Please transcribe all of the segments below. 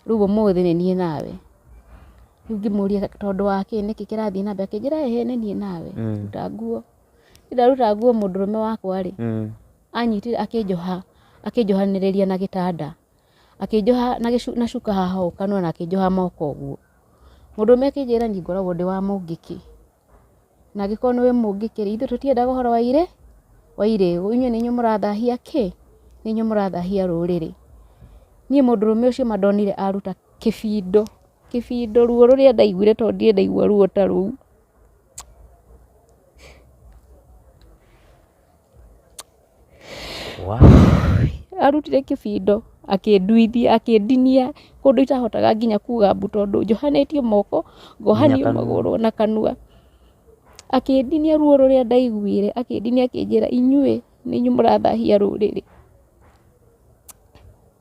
Rĩu ũmũthĩ nĩ niĩ nawe. Rĩu ngĩmũria tondũ wa kĩ, nĩkĩ kĩrathiĩ na mbere, akĩnjĩra ĩhĩ nĩ niĩ nawe, ruta nguo. Rĩu ndaruta nguo mũndũrũme wakwa-rĩ, anyitire akĩnjoha, akĩnjohanĩrĩria na gĩtanda, akĩnjoha na cuka haha ũũ kanua na akĩnjoha moko ũguo. Mũndũrũme akĩnjĩra niĩ ngoragwo ndĩ wa mũngĩkĩ. Na angĩkorwo nĩwe mũngĩkĩrĩ, ithuĩ tũtiendaga ũhoro wa irĩ, wa irĩĩgu. Inyuĩ nĩ inyuĩ mũrathahia kĩ? Nĩ inyuĩ mũrathahia rũrĩrĩ. Niĩ mũndũrũme ũcio ma ndonire aruta kĩbindũ, kĩbindũ ruo rũrĩa ndaiguire tondũ ndirĩ ndaigua ruo ta rũu. Arutire kĩbindoo akĩnduithia, akĩndinia ũndũ itahotaga nginya kuga mbu tondũ njohanĩtio moko, ngohanio magũrũ na kanua. Akĩndinia ruo rũrĩa ndaiguire, akĩndinia akĩnjĩra inyuĩ nĩ inyuĩ mũrathahia rũrĩrĩ.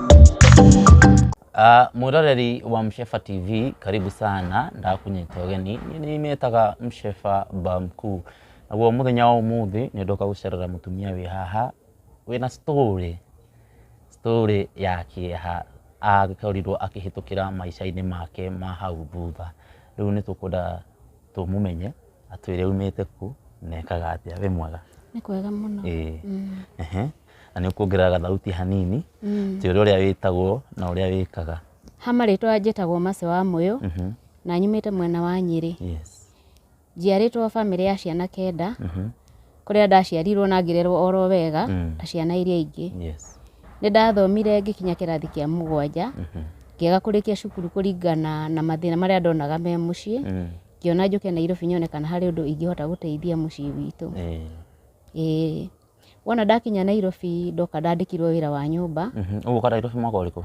Uh, mwiroreri wa Mshefa TV karibu sana ndakunyita ũgeni niĩ nĩmetaga Mshefa Bamku naguo mũthenya wa ũmũthĩ nĩndoka gũcerera mũtumia wĩ haha wĩna story story ya kĩeha akorirwo akĩhĩtũkĩra maica-inĩ make ma hau thutha rĩu nĩtũkwenda tũmũmenye atwĩre aumĩte kũ na ekaga atĩa wĩ mwega nĩ kwega mũno ĩĩ ehe Na nĩ ũkuongerera gathauti hanini mm. tĩ ũrĩa wĩtagwo na ũrĩa wĩkaga. Ha marĩtwa njĩtagwo Mace wa Mũyũ mm -hmm. na nyumĩte mwena wa Nyĩrĩ. Yes. Njiarĩtwo bamĩrĩ ya ciana kenda mm -hmm. kũrĩa ndaciarirwo na ngĩrerwo oro wega mm. ta ciana iria ingĩ. Yes. Nĩ ndathomire ngĩkinya kĩrathi kĩa mũgwanja mm -hmm. ngĩaga kũrĩkia cukuru kũringana na mathĩna marĩa ndonaga me mũciĩ mm. ngĩona njũke Nairobi nyone kana harĩ ũndũ ingĩhota gũteithia mũciĩ witũ. Mm. Eh. Wona ndakinya Nairobi ndoka ndandĩkirwo wĩra wa nyũmba. Mhm. Ũgũka Nairobi mwaka ũrĩkũ?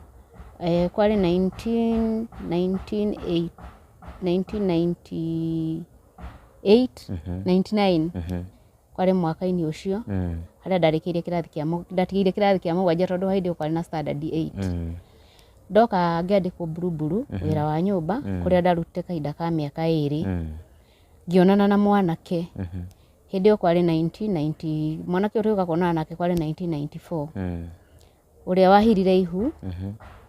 Eh, kwarĩ 19 19 1998 99 Mhm. kwarĩ mwaka-inĩ ũcio Mm. harĩa ndarĩkĩire kĩrathi kĩa mũ- ndatigĩire kĩrathi kĩa mũgwanja tondũ hĩndĩ ĩyo kwarĩ na standard 8 Mm. ndoka ngĩandĩkwo mburuburu wĩra wa nyũmba kũrĩa ndarutĩte kahinda ka mĩaka ĩrĩ Mm. ngĩonana na mwanake hĩndĩ ĩyo kwarĩ 1990 mwanake ũrĩa ũka kuonana nake kwarĩ 1994 Mm. ũrĩa wahirire ihu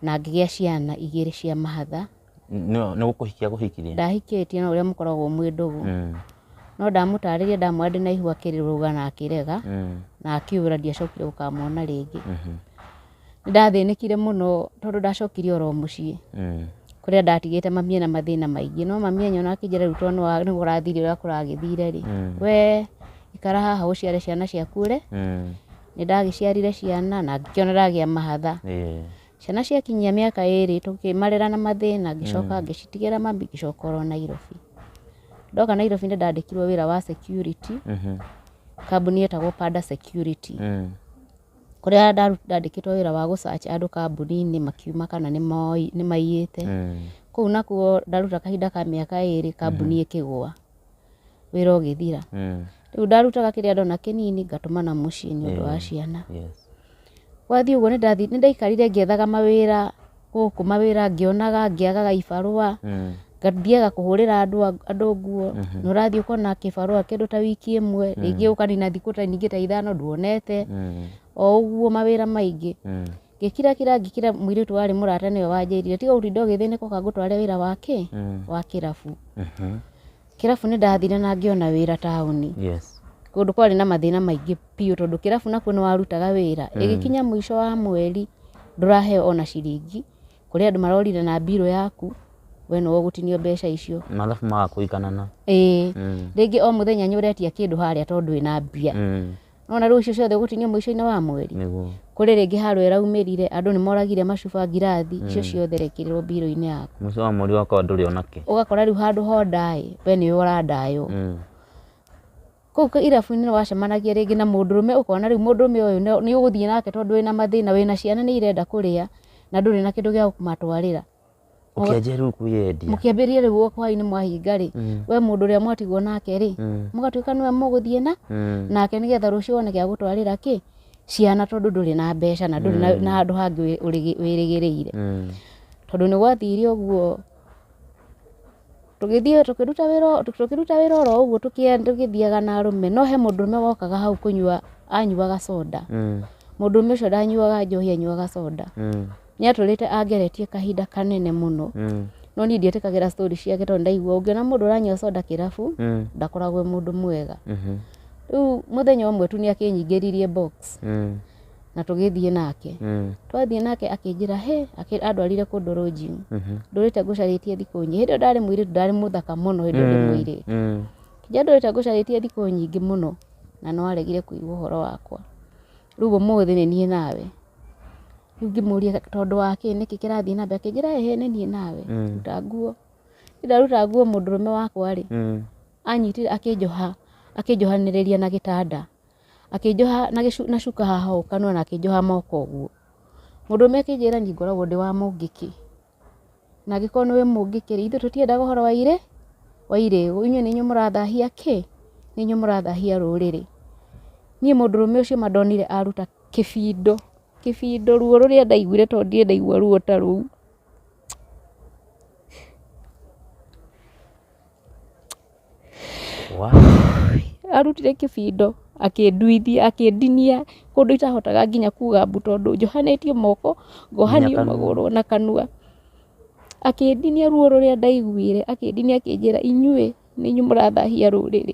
na ngĩgĩa ciana igĩrĩ cia mahatha Nĩ- nĩ gũkũhikia gũhikirie ndahikĩtie na ũrĩa mũkoragwo mwĩ ndũgũ Mm. no ndamũtarĩria ndamwĩra ndĩ na ihu akĩrũga na akĩrega Mm. na akĩũra ndiacokire gũkamwona rĩngĩ Mhm. Nĩndathĩnĩkire mũno tondũ ndacokire oro mũciĩ, kũrĩa ndatigĩte mami ena mathĩna maingĩ, no mami anyona akĩnjĩra rĩu tondũ nĩ kũrathire ũrĩa kũragĩthire rĩ, we ikara haha ũciare ciana ciaku ũre, nĩndagĩciarire ciana na ngĩkĩona ndagĩa mahatha. Ciana ciakinyia mĩaka ĩrĩ tũkĩmarera na mathĩna ngĩcoka ngĩcitigĩra mami ngĩcoka oro Nairobi. Ndoka Nairobi nĩndandĩkirwo wĩra wa security kambuni yetagwo Panda Security. kũrĩa ndandĩkĩtwo wĩra wa gũ search andũ kambuni-inĩ makiuma kana nĩ moi nĩ maiyĩte, kũu nakuo ndaruta kahinda ka mĩaka ĩrĩ kambuni ĩkĩgũa, wĩra ũgĩthira, rĩu ndarutaga kĩrĩa ndona kĩnini ngatũmana mũciĩ nĩ ũndũ wa ciana, gwathiĩ ũguo nĩ ndathiĩ nĩ ndaikarire ngĩethaga mawĩra. gũkũ mawĩra ngĩonaga ngĩagaga ibarũa ngathiaga kũhũrĩra andũ a- andũ nguo na ũrathiĩ ũkona kĩbarũa kĩndũ ta wiki ĩmwe rĩngĩ ũkanina thikũ ta ningĩ ta ithano nduonete o ũguo mawĩra maingĩ ngĩkira kira ngĩkira mũirĩtu warĩ mũrata nĩwe wanjĩrire tiga gũtinda ũgĩthĩnĩka ũka ngũtware wĩra wa kĩ wa kĩrabu Kĩrabu nĩ ndathire na ngĩona wĩra taũni. Yes. Kũndũ kwarĩ na mathĩna maingĩ biũ tondũ kĩrabu nakuo nĩ warutaga wĩra. Mm. Ĩgĩkinya mũico wa mweri ndũraheo ona ciringi. Kũrĩ andũ marorire na mbirũ yaku we nĩ wagũtinio mbeca icio. Mathabu magakũiganana. Ĩĩ. Mm. Rĩngĩ o mũthenya nĩ ũretia kĩndũ harĩa tondũ ĩna mbia. Mm. nona rĩu icio ciothe gũtinio mũico-inĩ wa mweri nĩguo kũrĩ rĩngĩ haro ĩraumĩrire andũ nĩ moragire macuba ngirathi icio ciothe rekĩrĩrwo mbirũ-inĩ yaku mũico wa mweri wakwa ndũrĩ onake ũgakora rĩu handũ ho ndaĩ we nĩwe ũrandaywo Mm. kũu kĩ- irabu-inĩ nĩ wacemanagia rĩngĩ na mũndũrũme ũkona rĩu mũndũrũme ũyũ nĩ- nĩ ũgũthiĩ nake tondũ wĩna mathĩna wĩna ciana nĩ irenda kũrĩa na ndũrĩ na kĩndũ gĩa kũmatwarĩra ũkĩanjia rĩu kuyendia mũkĩambĩrĩria rĩu gũka hwainĩ mwahinga rĩ Mm. we mũndũ ũrĩa mwatigwo nake rĩ Mm. mũgatuĩka nĩwe mũgũthiĩ na Mm. nake nĩgetha rũciũ wone gĩa gũtwarĩra kĩ ciana tondũ ndũrĩ na mbeca na ndũrĩ na- na handũ hangĩ wĩ- ũrĩgĩ- wĩrĩgĩrĩire Mm. tondũ nĩ gwathire ũguo Tũgĩthiĩ tũkĩruta wĩra o- tũkĩruta wĩra oro ũguo tũkĩe- tũgĩthiaga na arũme no he mũndũrũme wokaga hau kũnyua anyuaga soda Mm. mũndũrũme ũcio ndanyuaga njohi anyuaga soda Mm. nĩ atũrĩte angeretie kahinda kanene mũno Mm. no niĩ ndietĩkagĩra story ciake tondũ ndaigua ũngĩona mũndũ ũranyua soda kĩrabu Mm. ndakoragwo e mũndũ mwega Mhm. rĩu mũthenya ũmwe tu nĩ akĩnyingĩririe box Mm. na tũgĩthiĩ nake mm. twathiĩ nake akĩnjĩra he andwarire kũndũ rũnjini mhm. ndũrĩte ngũcarĩtie thikũ nyingĩ hĩndĩ ĩyo ndarĩ mũirĩtu ndarĩ mũthaka mũno hĩndĩ ĩyo ndĩ mm, mũirĩtu mm. kĩnja ndũrĩte ngũcarĩtie thikũ nyingĩ mũno na no aregire kũigua ũhoro wakwa rĩu ũmũthĩ nĩ niĩ nawe rĩu ngĩmũria tondũ wa kĩ nĩkĩ kĩrathiĩ na mbere akĩnjĩra ĩhĩ nĩ niĩ nawe mm. ruta nguo ndaruta nguo mũndũrũme wakwa rĩ anyitire akĩnjoha akĩnjohanĩrĩria na gĩtanda Akĩnjoha na gĩcu na cuka haha ũũ kanua na akĩnjoha moko ũguo. Mũndũ ũrũme akĩnjĩra niĩ ngoragwo ndĩ wa mũngĩkĩ. Na angĩkorwo nĩwe mũngĩkĩ rĩ, ithuĩ tũtiendaga ũhoro wa irĩ, wa irĩĩo. Inyuĩ nĩ inyuĩ mũrathahia kĩ? Nĩ inyuĩ mũrathahia rũrĩrĩ. Niĩ mũndũ ũrũme ũcio ma ndonire aruta kĩbindo, kĩbindo ruo rũrĩa ndaiguire tondũ ndirĩ ndaigua ruo ta rũu. Arutire kĩbindo akĩnduithia, akĩndinia ũndũ itahotaga nginya kuga mbu tondũ njohanĩtio moko, ngohanio magũrũ na kanua. Akĩndinia ruo rũrĩa ndaiguire, akĩndinia akĩnjĩra inyuĩ nĩ inyuĩ mũrathahia rũrĩrĩ.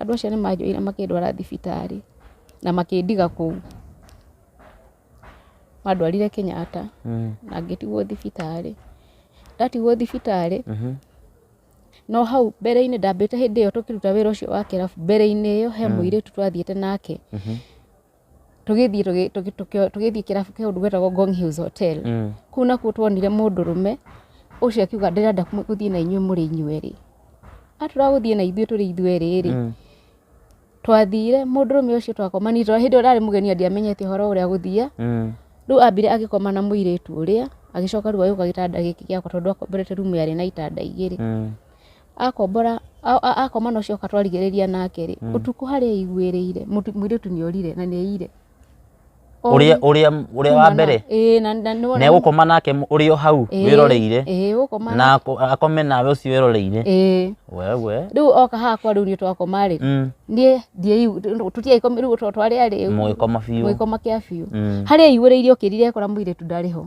Andũ acio nĩ manjoire makĩndwara thibitarĩ na makĩndiga kũu. Mandwarire Kenyatta na ngĩtigwo thibitarĩ. Ndatigwo thibitarĩ, no hau mbere-inĩ ndambĩte hĩndĩ ĩyo tũkĩruta wĩra ũcio wa kĩrabu, mbere-inĩ ĩyo he mũirĩtu twathiĩte nake. tũgĩthiĩ tũgĩ- tũgĩ- tũkĩ- tũgĩthiĩ kĩrabu kĩu gwĩtagwo Ngong Hills Hotel Mm. kuu nakuo tuonire mũndũrũme ũcio akiuga ndĩrenda kũ- gũthiĩ na inyuĩ mũrĩ inyuerĩ atũra gũthiĩ na ithuĩ tũrĩ ithuerĩ rĩ Mm. twathire mũndũrũme ũcio twakomanire tondũ hĩndĩ ĩyo ndarĩ mũgeni na ndiamenyete ũhoro ũrĩa gũthiĩ Mm. rĩu ambire agĩkoma na mũirĩtu ũrĩa agĩcoka rĩu agĩũka gĩtanda gĩkĩ gĩakwa tondũ akomborete rumu yarĩ na itanda igĩrĩ Mm. akombora a- a- akoma na ũcio oka twarigĩrĩria nake rĩ ũtukũ harĩa aiguĩrĩire mũtu- mũirĩtu nĩ orire na nĩ aiyire ũrĩa ũrĩa ũrĩa wa mbere ĩĩ na na nĩ na egũkoma nake mũ- ũrĩ o hau wĩroreire ĩĩ gũkoma na ako- akome nawe ũcio wĩroreire ĩĩ wewe rĩu oka hakwa rĩu niĩ twakoma rĩ Mm, niĩ ndiaigu- tũtiaikoma rĩu twa- twarĩa rĩ mũgĩkoma biũ mũgĩkoma kĩa biũ Mm. harĩa aiguĩrĩire ũkĩrire ekora mũirĩtu ndarĩ ho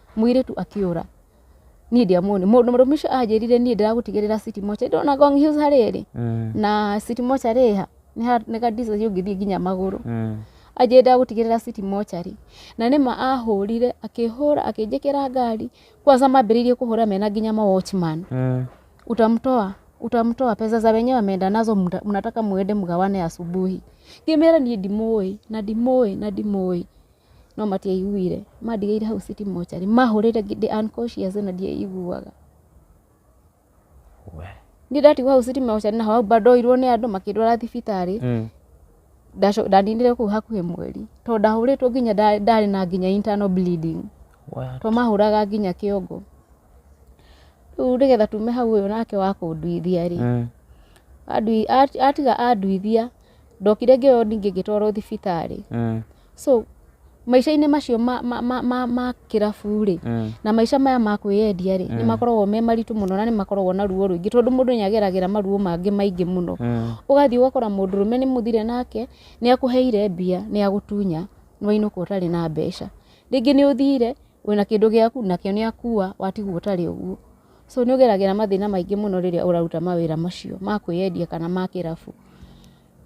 Mũirĩtu akĩũra, niĩ ndiamuonire. Mũrũme ũcio anjĩrire niĩ ndĩragũtigĩrĩra city mocha. Ndona Ngong Hills harĩa ĩrĩ na city mocha rĩ ha, nĩ ha- nĩ ga distance ũngĩthiĩ nginya magũrũ. Anjĩrire ndĩragũtigĩrĩra city mocha rĩ. Na nĩma ahũrire, akĩhũra, akĩnjĩkĩra ngari. Kwanza mambĩrĩirie kũhũra mena nginya ma watchman. Utamtoa, utamtoa, pesa za wenyewe ameenda nazo mta- mnataka muende mgawane asubuhi. Ngĩmera niĩ ndimũĩ, na ndimũĩ, na ndimũĩ. no matiaiguire, mandigĩire hau city mortuary, mahũrĩre ndĩ unconscious na ndiaiguaga. We. Niĩ ndatigwo hau city mortuary na hau ndoirwo nĩ andũ makĩndwara thibitarĩ, Mm. ndaco- ndaninire kũu hakuhĩ mweri, tondũ ndahũrĩtwo nginya nda- ndarĩ na nginya internal bleeding What? to mahũraga nginya kĩongo rĩu nĩgetha tume hau ũyũ nake wa kũnduithia rĩ Mm. andui- ati- atiga anduithia ndokire ngĩoywo ningĩ ngĩtwarwo thibitarĩ Mm. So, maica-inĩ macio ma, ma, ma, ma, ma kĩrabu-rĩ, Mm. na maica maya ma kwĩyendia-rĩ, nĩ makoragwo me maritũ mũno na nĩ makoragwo na ruo rũingĩ tondũ mũndũ nĩ ageragĩra maruo mangĩ maingĩ mũno. Mm. Ũgathiĩ ũgakora mũndũrũme nĩ mũthire nake, nĩ akũheire mbia, nĩ agũtunya, nĩ wainũka ũtarĩ na mbeca. Rĩngĩ nĩ ũthire, wĩna kĩndũ gĩaku, nakĩo nĩ akua, watigwo ũtarĩ ũguo. So nĩ ũgeragĩra mathĩna maingĩ mũno rĩrĩa ũraruta mawĩra macio ma kwĩyendia kana ma kĩrabu.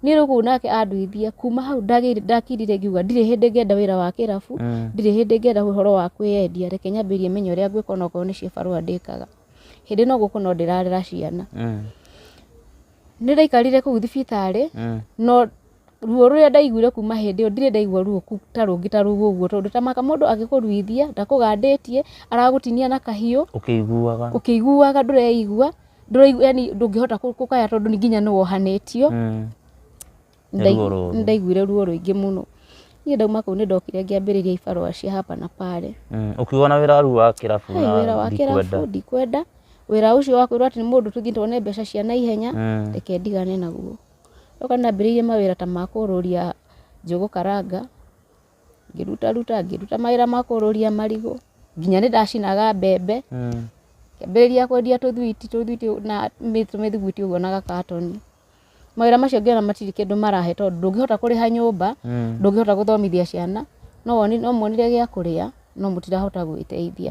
niĩ rĩu kũu nake anduithia kuma hau ndagĩire- ndakirire ngiuga ndirĩ hĩndĩ ngenda wĩra wa kĩrabu Mm. ndirĩ hĩndĩ ngenda ũhoro wa kwĩyendia reke nyambĩrĩrie menye ũrĩa ngwĩka onakorwo nĩ cibarũa ndĩkaga hĩndĩ no gũkũ no ndĩrarera ciana Mm. nĩ ndaikarire kũu thibitarĩ Mm. no ruo rũrĩa ndaiguire kuma hĩndĩ ĩyo ndirĩ ndaigua ruo ku- ta rũngĩ ta rũu ũguo tondũ ta maka mũndũ agĩkũruithia ndakũgandĩtie aragũtinia na kahiũ ũkĩiguaga ũkĩiguaga ndũreigua ndũraigua yani ndũngĩhota kũ- kũkaya tondũ nĩ nginya nĩ wohanĩtio Mm. Nĩ Ndai- ruo rũru. ndaiguire ruo rũingĩ mũno niĩ ndauma kũu nĩ ndokire ngĩambĩrĩria ibarũa cia hapa na pale Mm. ũkiuga na wĩra rĩu wa kĩrabu Hey, wĩra na wa ndikwenda kĩrabu ndikwenda wĩra ũcio wa kwĩrwo atĩ nĩ mũndũ tũthiĩ tuone mbeca cia na ihenya Mm. reke ndigane naguo ndoka nambĩrĩirie mawĩra ta ma kũrũria njũgũ karanga ngĩruta ruta ngĩruta mawĩra ma kũrũria marigũ nginya nĩ ndacinaga mbembe ngĩambĩrĩria kwendia tũthwiti tũthwiti na tũmĩthugwiti ũguo na gakatoni mawĩra macio ngĩona matirĩ kĩndũ marahe tondũ ndũngĩhota kũrĩha nyũmba ndũngĩhota gũthomithia ciana no wonire gĩa kũrĩa no mũtirahota gwĩteithia.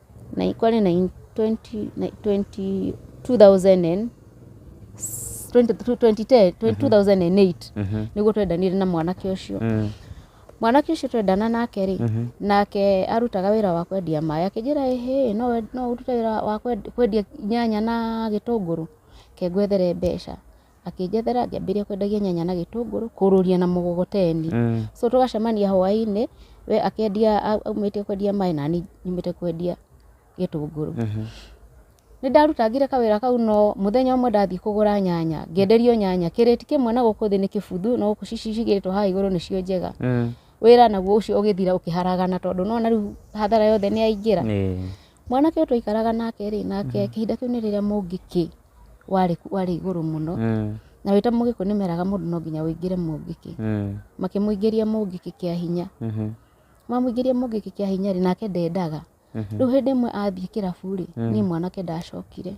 na ikwale na in 20 na 20 2000 and 20 2010 2008 Mhm. niguo twendanire na mwanake ucio Mm. mwanake ucio twendana nake rĩ Mhm. nake arutaga wira wa kwendia maĩ akĩnjĩra ĩhĩ no we- no ũrute wira wa kwend- kwendia nyanya na gĩtũngũrũ kengwethere mbeca akĩnjethera ngĩambĩrĩria kwendagia nyanya na gĩtũngũrũ kũrũria na mũgogoteni so tũgacemania hwainĩ we akĩendia au- aumĩte kwendia maĩ nani nyumĩte kwendia gĩtũngũrũ nĩ ndarutangire kawĩra kau no mũthenya ũmwe ndathiĩ kũgũra nyanya ngĩenderio nyanya kĩrĩti kĩmwe na gũkũ thĩ nĩ kĩbuthu no gũkũ ci- ci- cigĩrĩtwo haha igũrũ nĩcio njega wĩra naguo ũcio ũgĩthira ũkĩharagana tondũ nĩwona rĩu hathara yothe nĩyaingĩra mwanake ũyũ twaikaraga nake rĩ nake kĩhinda kĩu nĩ rĩrĩa mũngĩkĩ warĩ warĩ igũrũ mũno, na wĩta mũgĩkũyũ nĩ meraga mũndũ no nginya wũingĩre mũngĩkĩ, makĩmũingĩria mũngĩkĩ kĩa hinya, mamũingĩria mũngĩkĩ kĩa hinya rĩ nake ndendaga, rĩu hĩndĩ ĩmwe athiĩ kĩrabu rĩ niĩ mwanake ndacokire,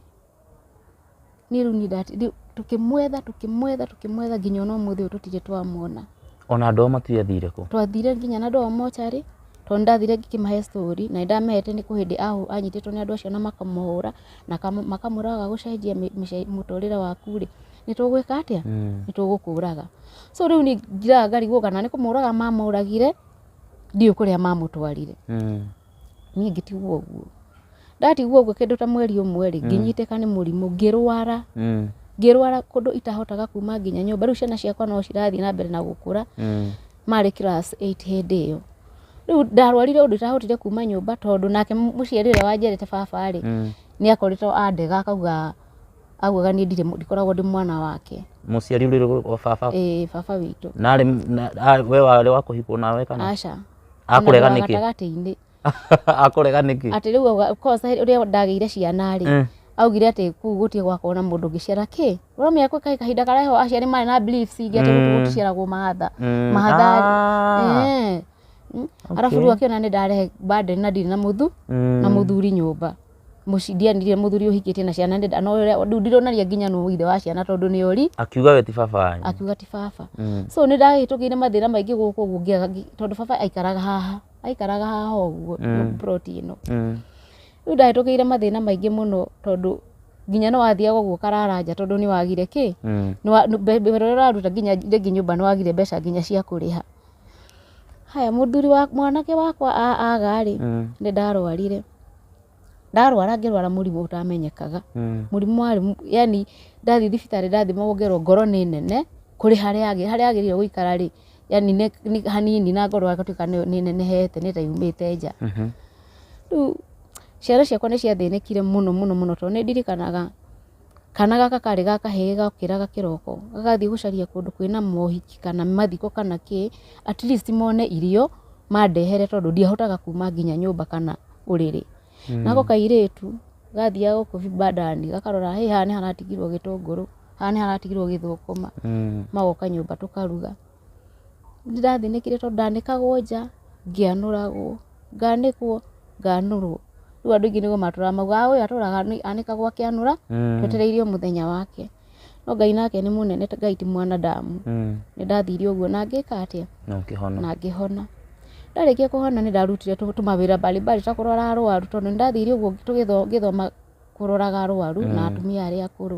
niĩ rĩu niĩ ndati rĩu tũkĩmwetha tũkĩmwetha tũkĩmwetha nginya ona ũmũthĩ ũyũ tũtirĩ twamwona. Ona andũ ao matiathire kũ? Twathire nginya na andũ ao mocarĩ, tondũ nĩ ndathire ngĩkĩmahe story na nĩ ndamehete nĩ kũ hĩndĩ ahũ anyitĩtwo nĩ andũ acio na makamũhũra, na kam- makamwĩra waga gũcenjia mĩ- mĩce- mũtũrĩre waku rĩ nĩ tũgwĩka atĩa nĩ tũgũkũraga so rĩu nĩ njiraga ngarigwo kana nĩ kũmũraga mamũragire ndiũ kũrĩa mamũtwarire niĩ ngĩtigwo ũguo ndatigwo ũguo kĩndũ ta mweri ũmwe rĩ ngĩnyitĩka nĩ mũrimũ ngĩrwara ngĩrwara kũndũ itahotaga kuma nginya nyũmba rĩu ciana ciakwa no cirathiĩ na mbere na gũkũra marĩ class eight hĩndĩ ĩyo. Rĩu ndarwarire ũndũ itahotire kuma nyũmba tondũ nake mũciari ũrĩa wanjiarĩte baba rĩ, Mm. nĩ akoretwo andega akauga augaga niĩ ndirĩ ndikoragwo ndĩ mwana wake. Mũciari ũrĩ rũgũ rwa baba. Ĩĩ baba witũ. Na arĩ na- a- we warĩ wa kũhikwo nawe kana? Aca. Akũrega Ona nĩkĩ? gatagatĩ-inĩ. akũrega nĩkĩ atĩ rĩu auga- of course, he- rĩrĩa ndagĩire ciana rĩ Eh. augire atĩ kuu gũtiĩ gwakorwo na mũndũ ũngĩciara kĩ ũramenya kwĩ kahi- kahinda karĩa ho aciari marĩ na beliefs ingĩ atĩ gũkũ Mm. gũticiaragwo mahatha Mm, mahatha ah. Eh. Mm. arabu Okay. rĩu akĩona nĩ ndarehe burden na ndirĩ na mũthu Mm. na mũthuri nyũmba Mũci- ndianire mũthuri ũhikĩtie na ciana nĩ- no ũrĩa- rĩu ndironaria nginya nũ ithe wa ciana tondũ nĩ ori akiuga we ti baba wanyu akiuga ti baba Mm. so nĩ ndahĩtũkĩire mathĩna maingĩ gũkũ ũguo ngĩaga ngi- tondũ baba aikaraga haha aikaraga haha ũguo Mm. plot ĩno Mm. rĩu ndahĩtũkĩire mathĩna maingĩ mũno tondũ nginya nĩ wathiaga ũguo karara nja tondũ nĩ wagire kĩ Mm. Nĩ wa- nĩ- mbe- mbe- ũrĩa ũraruta nginya rĩngĩ nyũmba nĩ wagire mbeca nginya cia kũrĩha haya mũthuri wa mwanake wakwa a- aga rĩ Mm. nĩ ndarwarire ndarwara ngĩrwara mũrimũ ũtamenyekaga mm. mũrimũ warĩ yani ndathi thibitarĩ ndathimagwo ngerwo ngoro nĩ nene kũrĩ harĩa agĩ harĩa agĩrĩire gũikara rĩ yani nĩ hanini na ngoro agatuĩka nĩ nenehete nĩ ta yumĩte nja mm -hmm. rĩu ciana ciakwa nĩ ciathĩnĩkire mũno mũno mũno tondũ nĩ ndirikanaga Kana gaka karĩ ga kahĩĩ gokĩraga kĩroko, gagathiĩ gũcaria kũndũ kwĩna mohiki kana mathiko kana kĩ, at least mone irio mandehere tondũ ndiahotaga kuuma nginya nyũmba kana ũrĩrĩ. Nako kairĩtu, gathiaga gũkũ vibandani, gakarora ĩ haha nĩ haratigirwo gĩtũngũrũ, haha nĩ haratigirwo gĩthũkũma, magoka nyũmba tũkaruga. Nĩndathĩnĩkire tondũ ndanĩkagwo nja, ngĩanũragwo, nganĩkwo, nganũrwo. Rĩu andũ aingĩ nĩguo matũraga maugaga ũyũ atũraga anĩkagwo akĩanũra twetereire o mũthenya wake. No Ngai nake nĩ mũnene Ngai ti mwanadamu. Nĩndathire ũguo na ngĩka atĩa? Na ũkĩhona. Na ngĩhona. Ndarĩkia kũhona nĩndarutire tũmawĩra mbali mbali ta kũrora arũaru tondũ nĩndathire ũguo ngĩthoma kũroraga arũaru na atumia arĩa akũrũ.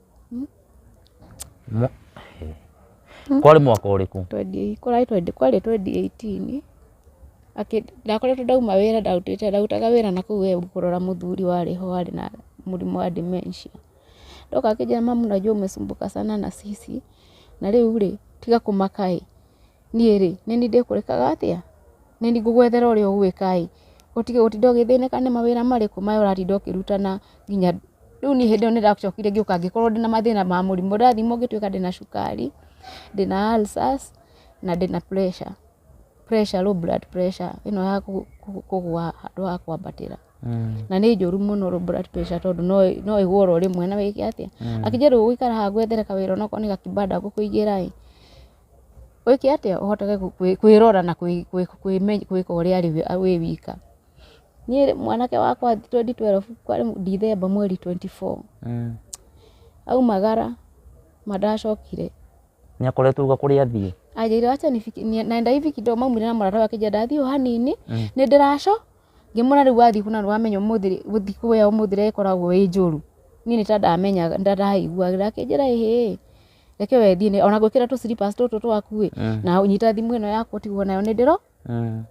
Mwa- eh. kwarĩ mwaka ũrĩkũ 28 kwarĩ 20 kwarĩ 2018 Akĩ- ndakoretwo ndauma wĩra ndarutĩte ndarutaga wĩra na kũu ĩyo kũrora mũthuri warĩ ho warĩ na mũrimũ wa dementia ndoka akĩnjĩra mamu najua umesumbuka sana na sisi na rĩu rĩ tiga kũmaka ĩ Niĩ rĩ, nĩ niĩ ndĩkũrekaga atĩa? Nĩ niĩ ngũgwethera ũrĩa ũgwĩka ĩ, ũtige gũtinda ũgĩthĩnĩka nĩ mawĩra marĩkũ maya ũratinda ũkĩruta na nginya rĩu niĩ hĩndĩ ĩyo nĩ ndacokire ngĩũka ngĩkorwo ndĩna mathĩna ma mũrimũ, ndathimwo ngĩtuĩka ndĩna cukari, ndĩna ulcers na ndĩna pressure, pressure, low blood pressure ĩno ya kũgwa handũ ha kwambatĩra. Na nĩ njũru mũno low blood pressure tondũ no ĩgwe oro rĩmwe na wĩke atĩa? Akĩnjĩra rĩu ũgũikara haha ngwethere kawĩra onokorwo nĩ ga kĩbanda ngũkũigĩra ĩ. Wĩke atĩa ũhotage kwĩrora na kwĩka ũrĩa arĩ wĩ wika? Niĩ rĩ, mwanake wakwa twendi twerebu kwarĩ Ndithemba mweri twendi boo, aumagara ma ndacokire. Nĩ akoretwo auga kũrĩa athiĩ? Anjĩrĩire aca nenda hivi kidogo maumire na mũrata wake nja ndathiĩ o hanini, nĩ ndĩraco, ngĩmwĩra rĩu wathiĩ kũ na nĩ wamenya ũmũthĩ rĩ, gũthiĩ kũrĩa ũmũthĩ rĩ ĩkoragwo ĩ njũru. Niĩ nĩ ta ndamenyaga, nĩ ta ndaiguaga, akĩnjĩra ĩhĩĩ. reke wendie nĩ- ona ngwĩkĩra tũ slippers tũtũ twaku ĩ Eh. na ũnyita thimũ ĩno yaku ũtigwo nayo nĩ ndĩro Eh.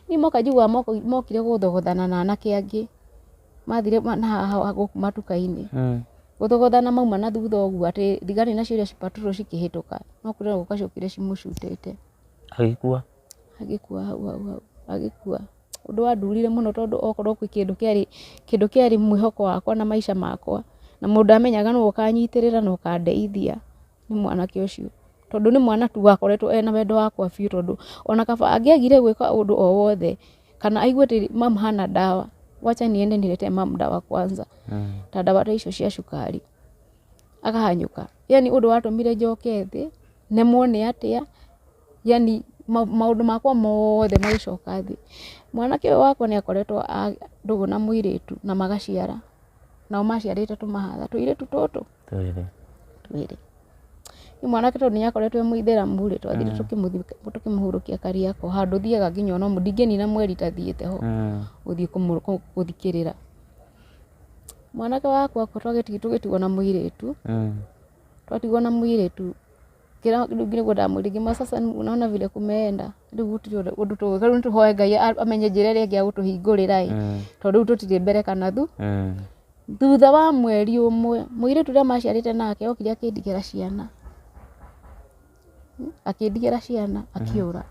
ni moka njiguaga moko- mokire gũthogothana na anake angĩ mathire ma- na haha haha gũkũ matuka-inĩ Eh. gũthogothana mauma na thutha ũguo atĩ thigari nacio iria cipaturwo cikĩhĩtũka no kũrĩ na gũka ciokire cimũcutĩte Agĩkua. agĩkua hau hau hau agĩkua ũndũ wandurire mũno tondũ okorwo kwĩ kĩndũ kĩarĩ, kĩndũ kĩarĩ mwĩhoko wakwa na maica makwa, na mũndũ ndamenyaga nũ ũkanyitĩrĩra na ũkandeithia nĩ mwanake ũcio, tondũ nĩ mwana tu wakoretwo ena wendo wakwa biũ tondũ ona kaba angĩagire gwĩka ũndũ o wothe, kana aigue atĩ mum hana ndawa, wacha niende niletee mum dawa kwanza, ta ndawa ta icio cia cukari, akahanyũka, yani ũndũ watũmire njoke thĩ, nemwo nĩ atĩa. yaani maũndũ makwa mothe magĩcoka thĩ. Mwanake ũyũ wakwa nĩ akoretwo ndũgũ na mũirĩtu na magaciara, nao maciarĩte tũmahatha, tũirĩtu tũtũ twĩrĩ. Rĩu mwanake tondũ nĩ akoretwo e mũithĩramu rĩ, twathire tũkĩmũhurũkia Kariakoo, handũ thiaga nginya ona ũmũthĩ, ndingĩnina mweri itathiĩte ho gũthiĩ gũthikĩrĩra. Mwanake wakwa tũgĩtigwo na mũirĩtu, twatigwo na mũirĩtu... kira rĩu nĩguo ndamwĩrire ngiuga sasa unaona vile kumeenda rĩu gũtirĩ ũndũ- ũndũ tũ- rĩu nĩtũhoe ngai a- amenye njĩra ĩrĩa ĩngĩ ya gũtũhingũrĩra ĩ Mm. tondũ rĩu tũtirĩ mbere kana thu Mm. thutha wa mweri ũmwe mũirĩtu ũrĩa maciarĩte nake okire akĩndigĩra ciana akĩndigĩra ciana akĩũra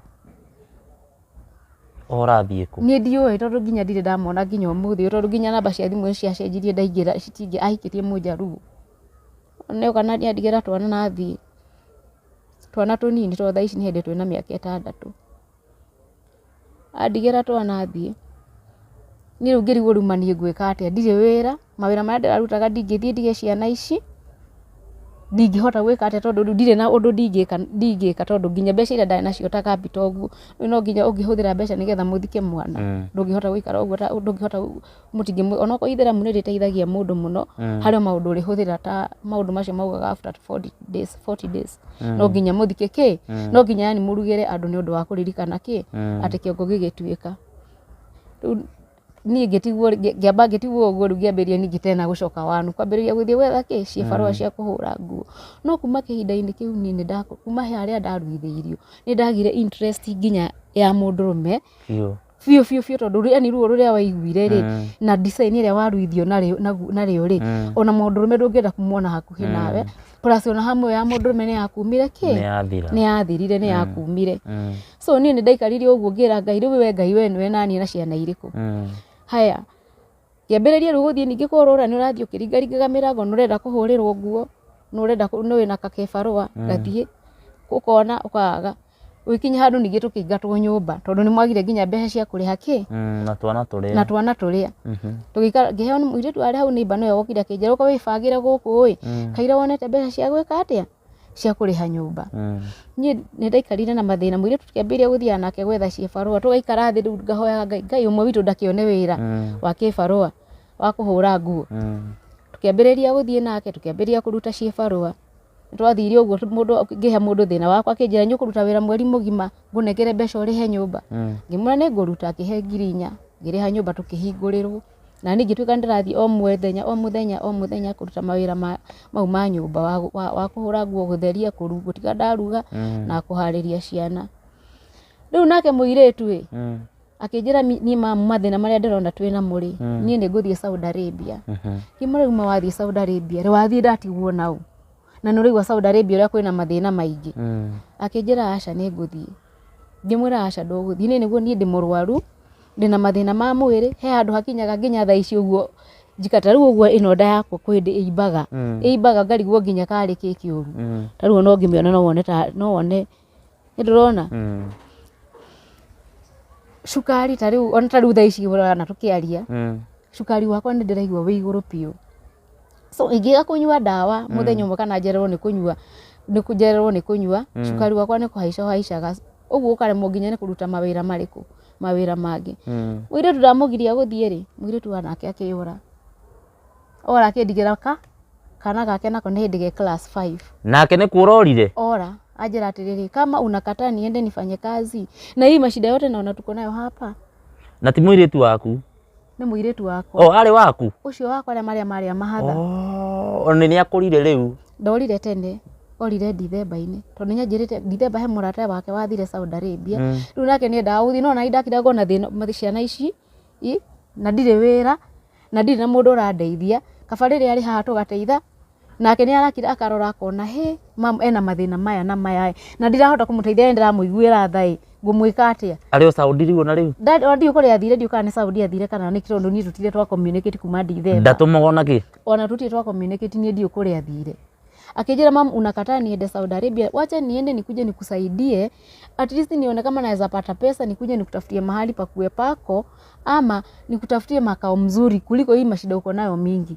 ũrathiĩ kũ niĩ ndiũĩ tondũ nginya ndirĩ ndamona nginya ũmũthĩ ũyũ, tondũ nginya namba cia thimũ nĩ ciacenjirie ndaingĩra citingĩ ahikĩtie mũnjaruo Nĩ oka na andigĩra twana na athiĩ, twana tũnini tondũ thaa ici nĩ hĩndĩ twĩ na mĩaka ĩtandatũ. Andigĩra twana athiĩ, niĩ rĩu ngĩrigwo rĩu ma niĩ ngwĩka atĩa, ndirĩ wĩra, mawĩra marĩa ndĩrarutaga ndingĩthiĩ ndige ciana ici, ndingĩhota gwĩka atĩa tondũ rĩu ndirĩ na ũndũ ndingĩka ndingĩka tondũ nginya mbeca irĩa ndarĩ nacio ta capital ũguo, rĩu no nginya ũngĩhũthĩra mbeca nĩgetha mũthike mwana, ndũngĩhota gũikara ũguo ũta ndũngĩhota. mũtingĩmwĩra onakorwo itheramu nĩ rĩteithagia mũndũ mũno mm. harĩ maũndũ ũrĩhũthĩra ta maũndũ macio maugaga after 40 days 40 days mm. no nginya mũthike kĩ mm. no nginya yani mũrugĩre andũ nĩ ũndũ wa kũririkana kĩ mm. atĩ kĩongo gĩgĩtuĩka niä ngä tiguo ngä amba ngä tiguo å guo rä u ngä ambä ria ningä tena gå coka wanu kwambä rä ria gå thiä wetha kä ciäbarå mm. cia kå hå ra nguo no kuma kä hinda-inä kä u niä kuma he arä a ndaruithä irio nä ndagire nginya ya må ndå rå me biũ biũ biũ tondũ yani ruo rũrĩa waiguire rĩ Eh. na design ĩrĩa waruithio narĩo- nagu- narĩo rĩ Eh. ona mũndũrũme ndũngĩenda kumwona hakuhĩ Eh. nawe plus ona hamu ya mũndũrũme nĩ yakumire nĩ kĩ yathira nĩ yathirire nĩ yakumire Mm, so niĩ nĩ ndaikarire ũguo ngĩra ngai rĩu we ngai we nĩwe naniĩ na ciana irĩkũ mm. haya Kĩambĩrĩria rĩu gũthiĩ ningĩ kũhũrũra nĩ ũrathiĩ ũkĩringaringaga mĩrango nĩ ũrenda kũhũrĩrwo nguo, nĩ ũrenda kũ- nĩ wĩna kakebarũa gathiĩ, ũkona ũkaga. Ũgĩkinya handũ ningĩ tũkĩingatwo nyũmba tondũ nĩ mwagire nginya mbeca cia kũrĩha kĩ Mm, na twana tũrĩa. na twana tũrĩa Mhm. tũgĩikara ngĩheo nĩ mũirĩtu arĩ hau nĩmba nĩwe wokire akĩnjĩra ũka wĩbangĩre gũkũ ĩ kaira wonete mbeca cia gwĩka atĩa cia kũrĩha nyũmba niĩ nĩ ndaikarire na mathĩna mũirĩtu tũkĩambĩrĩria gũthiaga nake gwetha kĩbarũa tũgaikara thĩ rĩu ngahoyaga ngai ngai ũmwe witũ ndakĩone wĩra wa kĩbarũa wa kũhũra nguo tũkĩambĩrĩria gũthiĩ nake tũkĩambĩrĩria kũruta cibarũa nĩ twathire ũguo tũ- mũndũ ngĩhe mũndũ thĩna wakwa akĩnjĩra nĩ ũkũruta wĩra mweri mũgima ngũnengere mbeca ũrĩhe nyũmba ngĩmwĩra nĩ ngũruta akĩhe ngiri inya ngĩrĩha nyũmba tũkĩhingũrĩrwo Na niĩ ngĩtuĩka nĩ ndĩrathiĩ o mũthenya o mũthenya o mũthenya kũruta mawĩra ma, mau ma nyũmba, wa, wa, wa kũhũra nguo, gũtheria, kũru, gũtiga ndaruga, na kũharĩria ciana. Rĩu nake mũirĩtu ĩ, akĩnjĩra mi- niĩ ma- mathĩna marĩa ndĩrona twĩ namo rĩ, niĩ nĩ ngũthiĩ Saudi Arabia. Ngĩmwĩra rĩu ma wathiĩ Saudi Arabia rĩ, wathiĩ ndatigwo na ũ? Na nĩ ũraigua Saudi Arabia ũrĩa kwĩna mathĩna maingĩ. Akĩnjĩra aca nĩ ngũthiĩ. Ngĩmwĩra aca ndũgũthiĩ. Niĩ nĩguo niĩ ndĩ mũrũaru. ndĩna mathĩna ma mwĩrĩ he handũ hakinyaga nginya thaa ici ũguo njika ta rĩu ũguo ĩno nda yakwa kwĩ hĩndĩ ĩimbaga Mm. ĩimbaga ngarigwo nginya karĩ kĩ kĩũru Mm. ta rĩu ona ũngĩmĩona no wone ta no wone nĩ ndũrona Mm. cukari ta rĩu ona ta rĩu thaa ici ũrona tũkĩaria Mm. cukari wakwa nĩ ndĩraigua wĩ igũrũ biũ so ingĩga kũnyua ndawa mm. mũthenya ũmwe kana njererwo nĩ kũnyua nĩ kũnjererwo nĩ kũnyua mm. cukari wakwa nĩ kũhaica haicaga ũguo ũkaremwo nginya nĩ kũruta mawĩra marĩkũ mawĩra mangĩ mm. mũirĩtu ndamũgiria gũthiĩ rĩ mũirĩtu wanake akĩyũra ora akĩndigĩra ka kana gake nako nĩ hĩndĩ ge class 5 nake nĩ kuora orire ora ajira atiriri kama unakataa niende nifanye kazi na hii mashida yote naona tuko nayo hapa na ti mwiritu waku nĩ mũirĩtu wakwa o arĩ waku ũcio wakwa arĩa marĩa marĩa mahatha o nĩ nĩ akũrire rĩu ndorire tene orire ndithemba-inĩ tondũ nĩ anjĩrĩte ndithemba he mũrata wake wathire Saudi Arabia Mm. rĩu nake nĩ endaga gũthiĩ no na ndakira ngona thĩna ma- ciana ici i na ndirĩ wĩra na ndirĩ na mũndũ ũrandeithia kaba rĩrĩa arĩ haha tũgateitha Nake nĩ arakira akarora akona hĩ ena mathĩna maya na maya ĩ, na ndirahota kũmũteithia nĩ ndĩramũiguĩra tha ĩ, ngũmwĩka atĩa? Arĩ o Saudi rĩu ona rĩu? Nda- Ona ndiũĩ kũrĩa athire, ndiũĩ kana nĩ Saudi athire kana nĩkĩ tondũ niĩ tũtirĩ twa communicate kuma Ndithemba. Ndatũmagwo na kĩ? ona tutie twa communicate niĩ ndiũ kũrĩa thire akijira mam unakataa niende Saudi Arabia wacha niende nikuje nikusaidie at least nione kama naweza pata pesa nikuje nikutafutie mahali pa kuwe pako ama nikutafutie makao mzuri kuliko hii mashida uko nayo mingi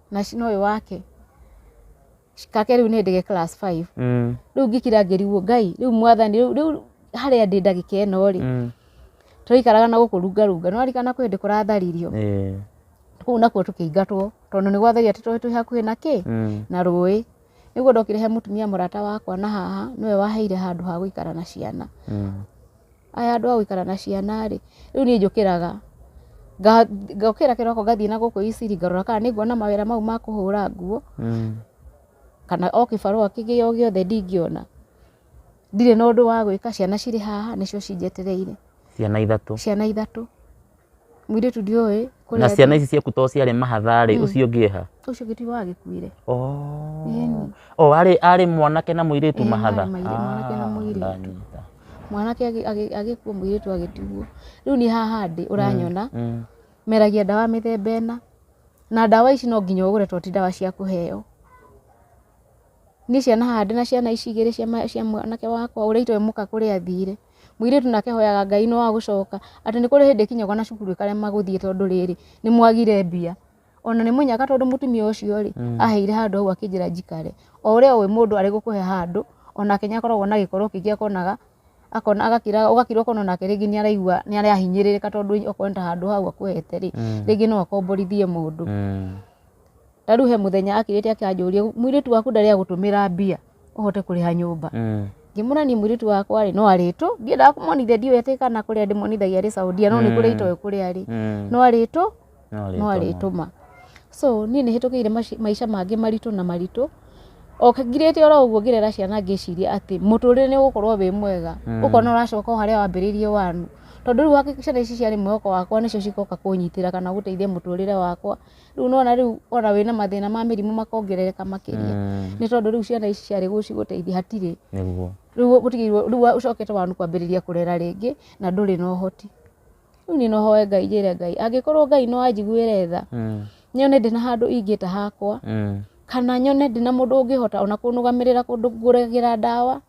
na cino ũyũ wake kake rĩu nĩ ndege class five Mm. rĩu ngĩkira ngĩriguo ngai rĩu mwathani rĩu rĩu harĩa ndĩ ndagĩka ĩno rĩ Mm. tũraikaraga na gũkũ rungarunga nĩ warikana kwĩ hĩndĩ kũratharirio Eh. kũu nakuo tũkĩingatwo tondũ nĩ gwatharia atĩ tũĩ twĩ hakuhĩ na kĩ Mm. na rũĩ nĩguo ndokire he mũtumia mũrata wakwa na haha nĩwe waheire handũ ha gũikara na ciana Mm. aya andũ a gũikara na ciana rĩ, rĩu niĩ njũkĩraga ngokĩra kĩroko ngathiĩ na gũkũ Eastleigh ngarora kana nĩ nguona mawĩra mau ma kũhũra nguo, kana o kĩbarũa kĩngĩ o gĩothe ndingĩona. Ndirĩ na ũndũ wa gwĩka, ciana cirĩ haha nĩcio cinjetereire. Ciana ithatũ? Ciana ithatũ. Mũirĩtu ndiũĩ kũrĩa na ciana ici ciaku to ciarĩ mahatha rĩ ũcio ũngĩ eha ũcio ũngĩ ti wagĩkuire oh Ĩni. oh arĩ arĩ mwanake na mũirĩtu Ĩĩ, mahatha marĩ mairĩ- mwanake na Ah, mũirĩtu. ndanyita. mwanake agĩ- agĩ- agĩkua mũirĩtu agĩtigwo rĩu niĩ haha ndĩ ũranyona Mm. meragia ndawa mĩthemba ĩna na ndawa ici no nginya ũgũre to ti ndawa cia kũheo niĩ ciana haha ndĩ na ciana ici igĩrĩ cia ma- cia mwanake wakwa ũrĩa itoĩ mũka kũrĩa athire Mũirĩtu nake ahoyaga Ngai no wa gũcoka atĩ nĩ kũrĩ hĩndĩ ĩkinyagwo na cukuru ĩkarema gũthiĩ tondũ rĩrĩ nĩ mwagire mbia. Ona nĩ mũnyaka tondũ mũtumia ũcio rĩ, aheire handũ hau akĩnjĩra njikare. O ũrĩa ũĩ mũndũ arĩ gũkũhe handũ, onake nĩ akoragwo na gĩkoro kĩngĩ akonaga, akona agakira ũgakira ũkona onake rĩngĩ nĩ araigua nĩ arahinyĩrĩrĩka tondũ okorwo nĩ ta handũ hau akũhete rĩ, rĩngĩ no akomborithie mũndũ. ta rĩu he mũthenya akĩrĩte akĩanjũria mũirĩtu waku ndarĩ agũtũmĩra mbia ũhote kũrĩha nyũmba Mm. ngĩmwĩra niĩ mũirĩtu wakwa rĩ no arĩtũ ndiendaga kũmonithia ndiũĩ atĩ kana kũrĩa ndĩmonithagia arĩ saudia no nĩ kũrĩa itoĩ kũrĩa arĩ Mm. no arĩtũ No no arĩtũma. arĩtũma so niĩ nĩ hĩtũkĩire maci- maica mangĩ maritũ na maritũ o ngirĩte oro ũguo ngĩrera ciana ngĩciria atĩ mũtũrĩre nĩ ũgũkorwo wĩ mwega Mm. ũkona ũracoka o harĩa wambĩrĩirie wanu tondũ rĩu hakika ciana ici ciarĩ mwĩhoko wakwa nĩcio cigoka kũnyitĩra kana gũteithia mũtũrĩre wakwa rĩu nona rĩu ona wĩna mathĩna ma mĩrimũ makongerereka makĩria nĩ tondũ rĩu ciana ici ciarĩ gũcigũteithia hatirĩ nĩguo rĩu ũtigĩirwo rĩu ũcokete wanu kwambĩrĩria kũrera rĩngĩ na ndũrĩ na ũhoti rĩu niĩ no hoe ngai njĩre ngai angĩkorwo ngai no anjiguĩre tha Mm, nyone ndĩ na handũ ingĩta hakwa mm, kana nyone ndĩ na mũndũ ũngĩhota ona kũnũgamĩrĩra kũndũ ngũragĩra ndawa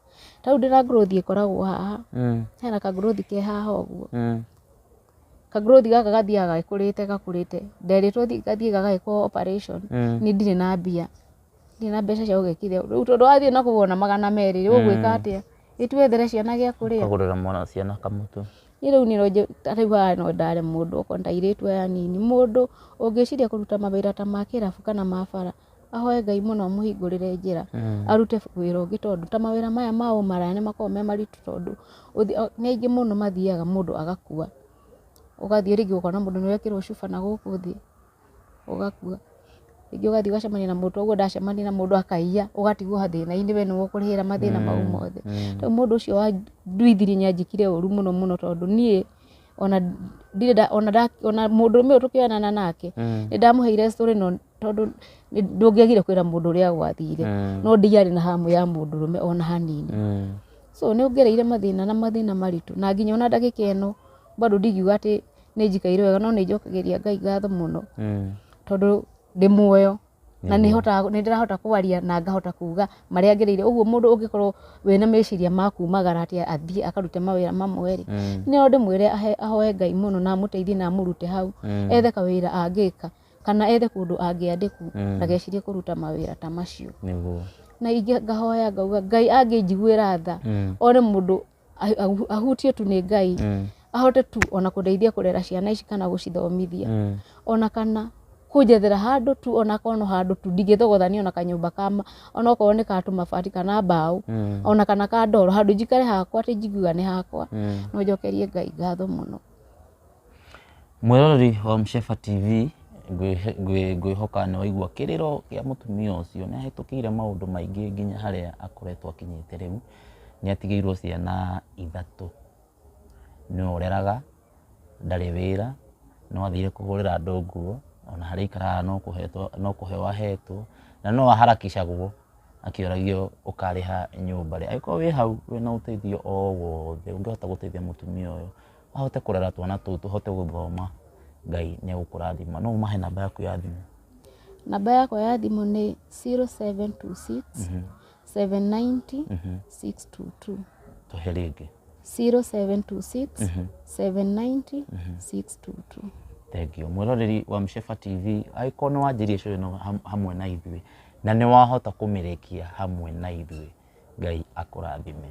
tau ndĩ na ngũrũthi ĩkoragwo haha mm, hena kangũrũthi ke haha ũguo mm, ka growth gaka gathiaga gakũrĩte gakũrĩte nderĩtwo thi- gathiĩ gagagĩkwo operation Mm. nĩ ndirĩ na mbia ndirĩ na mbeca cia gũgekithia rĩu tondũ wathiĩ na kũgũra na magana merĩ rĩ ũgwĩka atĩa ĩtuethere ciana gĩa kũrĩa kagurira mwana ciana kamutu niĩ rĩu nĩronje rĩu haha no ndare mũndũ okorwo ndairĩtu aya nini mũndũ ũngĩciria kũruta mawĩra ta ma kĩrabu kana ma bara ahoe Ngai mũno amũhingũrĩre njĩra arute wĩra ũngĩ tondũ ta mawĩra maya ma ũmaraya nĩ makoragwo me maritũ tondũ nĩ aingĩ mũno mathiaga mũndũ agakua. Ũgathiĩ rĩngĩ ũkona mũndũ nĩ wekĩrwo cuba na gũkũ thĩ ũgakua. Rĩngĩ ũgathiĩ ũgacemania na mũndũ ta ũguo ndacemania na mũndũ akaiya ũgatigwo hathĩna-inĩ we nĩwe ũkũrĩhĩra mathĩna mau mothe. Rĩu mũndũ ũcio wa nduithiri nĩ anjĩkire ũru mũno mũno tondũ niĩ ona ndirĩ ona mũndũrũme ũyũ tũkĩonana nake nĩ ndamũheire story no... tondũ ndũngĩagire kwĩra mũndũ ũrĩa gwathire mm. no ndiarĩ na hamu ya mũndũrũme ona hanini mm. so nĩ ongereire mathĩna na mathĩna maritũ na nginya ona ndagĩka ĩno bado ndingiuga atĩ nĩ njikaire wega no nĩ njokagĩria ngai ngatho mũno mm. tondũ ndĩ muoyo na nä ndärahota kwaria na ngahota kuga marä a ngereire å guo må ndå å ngä korwo wä na meciria ma kumagara atä athiä akarute mawä ra mamwe rä mm. nä o ndä mwä re ahoe ngai må no na amå teithie na amå rute hau mm. ethe kawä ra angä ka kana ethe kũndũ angĩandĩkwo mm. ndagecirie kũruta mawĩra ta macio na ingĩ ngahoya ngauga ngai angĩnjiguĩra tha mm. one mũndũ ahutio tu nĩ ngai mm. ahote tu ona kũndeithia kũrera ciana ici kana gũcithomithia mm. ona kana kunjethera handu tu ona kono handu tu ndigithogothania ona kanyumba kama ona okorwo ni katu mabati kana mbao mm. ona kana ka ndoro handu njikare hakwa ti njiguga ni hakwa mm. no njokerie ngai ngatho muno Mwĩroreri wa Mshefa TV, ngwĩhoka nĩ waigua kĩrĩro kĩa mũtumia ũcio. Nĩ ahĩtũkĩire maũndũ maingĩ nginya harĩa akoretwo akinyĩte rĩu. Nĩ atigĩirwo ciana ithatũ, nĩ we ũreraga, ndarĩ wĩra, no athire kũhũrĩra andũ nguo, ona harĩa aikaraga no kũheo ahetwo, na no a harakicagwo akĩũragio ũkarĩha nyũmba rĩ. Angĩkorwo wĩ hau wĩna ũteithio o wothe ũngĩhota gũteithia mũtumia ũyũ, mahote kũrera twana tũu tũhote gũthoma Ngai nĩ egũkũrathima. No ũmahe namba yaku ya thimũ. Namba yakwa ya thimũ nĩ 0726 790 622. Tũhe rĩngĩ. 0726 790 622. Thengiũ. Mwĩroreri wa Msheba TV, angĩkorwo nĩ wanjĩrie show ĩno ham- hamwe na ithuĩ na nĩ wahota kũmĩrĩkia hamwe na ithuĩ, Ngai akũrathime.